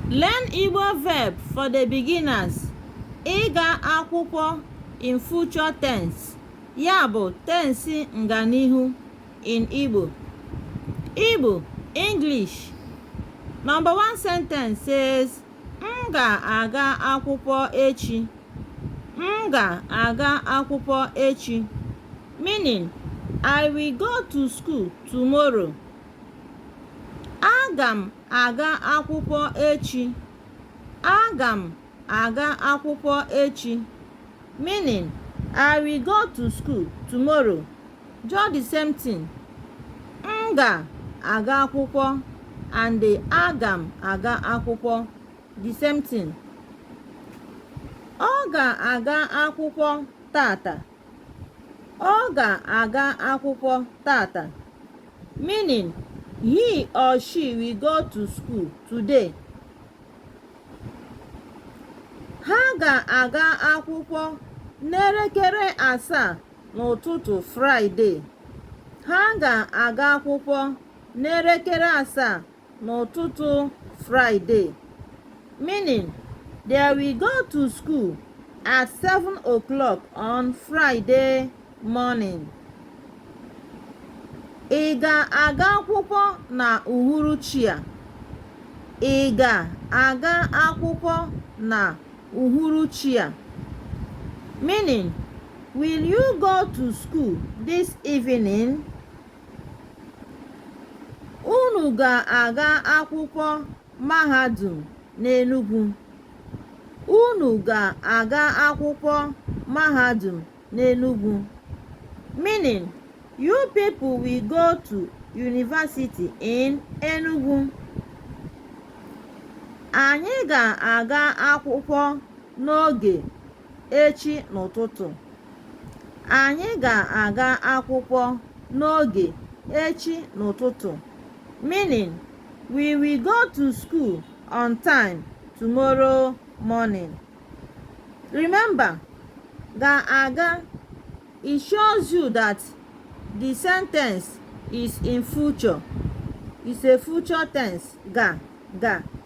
Learn Igbo verb for the beginners. Ịga akwụkwọ in future tense, ya bụ tensi nganihu in Igbo. Igbo, English. Number one sentence says, M ga-aga akwụkwọ echi. M ga-aga akwụkwọ echi. Meaning, I will go to school tomorrow. Aga m aga akwụkwọ echi. Aga m aga akwụkwọ echi. Meaning, I will go to school tomorrow. Just the same thing. M ga-aga akwụkwọ and aga m aga akwụkwọ. The same thing. Ọ ga-aga akwụkwọ taata. Ọ ga-aga akwụkwọ taata. Meaning, he or she will go to school today. Ha ga-aga akwụkwọ n'elekere asaa n'ụtụtụ Fraịde. Ha ga-aga akwụkwọ n'elekere asaa n'ụtụtụ Fraịde, meaning they will go to school at 7 o'clock on Friday morning. Ị ga-aga akwụkwọ na uhuruchi a? Ị ga-aga akwụkwọ na uhuruchi a? Meaning, will you go to school this evening? Unu ga-aga akwụkwọ mahadum n'Enugwu. Unu ga-aga akwụkwọ mahadum n'Enugwu. Meaning, you people will go to university in Enugu. Anyị ga-aga akwụkwọ n'oge echi n'ụtụtụ anyị ga-aga akwụkwọ n'oge echi n'ụtụtụ meaning we will go to school on time tomorrow morning remember ga-aga it shows you that the sentence is in future it's a future tense ga ga